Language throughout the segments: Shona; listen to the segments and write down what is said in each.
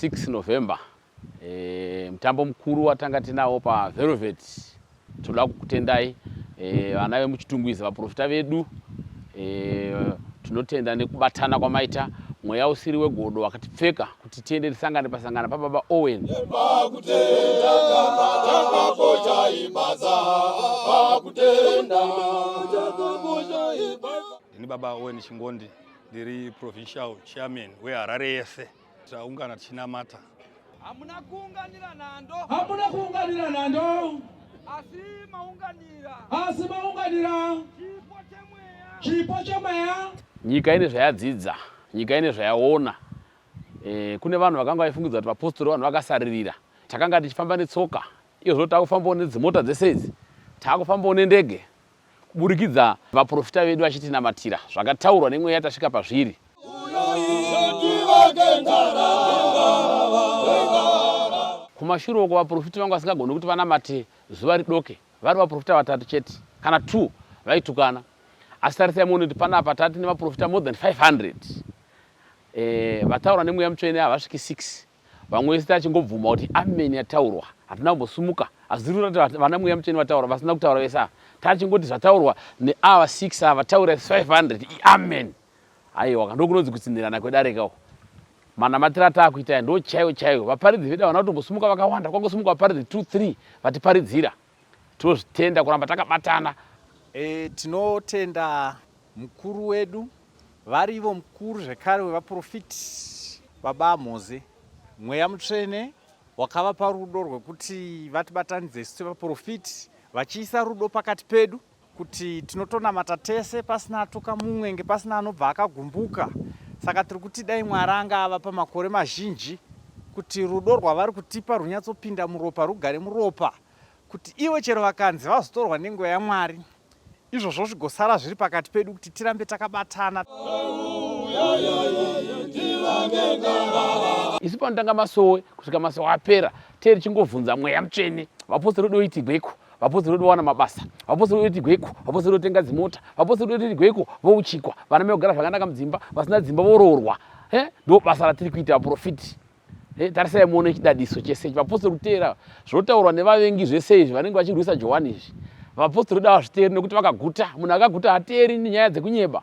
6 November e, mutambo mukuru watanga tinawo paVelvet. Tinoda kukutendai e, vana vemuChitungwiza, vaprofita vedu e, tinotenda nekubatana kwamaita mweya usiri wegodo wakatipfeka kuti tiende tisangane pasangana pababa Owen ini baba Owen Chingondi Ndiri provincial chairman weHarare yese. Taungana tichinamata. Hamuna kuunganira nhando. Hamuna kuunganira nhando. Asi maunganira. Asi maunganira. Chipo chemweya. Chipo chemweya. Nyika ine zvayadzidza, nyika ine zvayaona. Eh, kune vanhu vakanga vaifungidzwa kuti vapostori vanhu vakasaririra. Takanga tichifamba netsoka. Iyo zvino takufambawo nedzimota dzese idzi. Takufambawo nendege. kuburikidza vaprofita vedu vachitinamatira zvakataurwa nemweya tasvika pazviri kumashure uko vaprofita vangu vasingagoni kuti vanamate zuva ridoke vari vaprofita vatatu chete kana two vaitukana asi tarisai muone kuti panapa tati nevaprofita more than 500 eh, vataura nemweya mutsvene havasviki 6 vamwe vese tachingobvuma kuti amen yataurwa hatina kumbosumuka azirura kuti vana mweya mutsvene vataura vasina kutaura vese ava tachingoti zvataurwa neava 6 ava taura 500 iamen aiwa kandokunonzi kutsinhirana kwedarekawo manamatira ataakuita aya ndo chaiwo chaiwo vaparidzi vedu havana kutombosumuka vakawanda kwangosumuka vaparidzi 23 vatiparidzira Tinozvitenda kuramba takabatana. E, tinotenda mukuru wedu vari ivo mukuru zvekare wevaprofiti baba Moze. Mweya mutsvene wakavapa rudo rwekuti vatibatanidze isu sevaprofiti vachiisa rudo pakati pedu kuti tinotonamata tese pasina atuka mumwe nge pasina anobva akagumbuka saka tiri kuti dai mwari anga ava pamakore mazhinji kuti rudo rwavari kutipa runyatsopinda muropa rugare muropa kuti ivo chero vakanzi vazotorwa nenguva yamwari izvozvo zvigosara zviri pakati pedu kuti tirambe takabatana isu panotanga masowe kusvika masowe apera tee richingovhunza mweya mutsvene vapostori doitigweko vapostori vedu vawana mabasa vapostori vedu tigweiko vapostori vedu tenga dzimota vapostori vedu tigweiko vouchikwa vana mai kugara zvakanaka mudzimba vasina dzimba voroorwa e ndo basa ratiri kuita vaprofiti e tarisai muone chidadiso chese ichi vapostori kuteera zvotaurwa nevavengi zvese izvi vanenge vachirwisa johani izvi vapostori vedu havazviteeri nekuti vakaguta munhu akaguta hateeri nenyaya dzekunyeba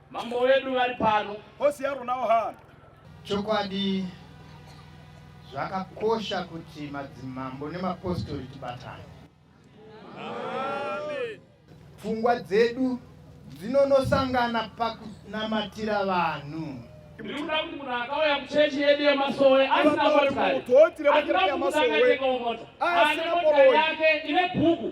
Mambo wedu vari pano. Hosi yaro nawo hana. Chokwadi zvakakosha kuti madzimambo nemapostori tibatane. Pfungwa dzedu dzinonosangana pakunamatira vanhu. Ndikuda kuti munhu akauya kuchechi yedu yemasowe asina motokari, asina kuti akatengwa mota, ane motokari yake ine bhuku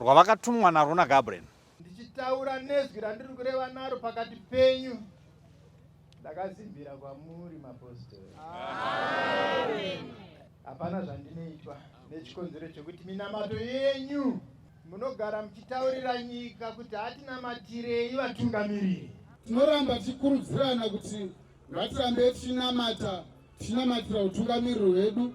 rwavakatumwa narwo naGabriel. Ndichitaura nezwi randiri kureva naro pakati penyu ndakazimbira kwamuri mapostori. Hapana zvandinoitwa nechikonzero chekuti minamato yenyu munogara muchitaurira nyika kuti hatinamatirei vatungamiriri. Tinoramba tichikurudzirana kuti ngatirambe tichinamata tichinamatira utungamiriro hwedu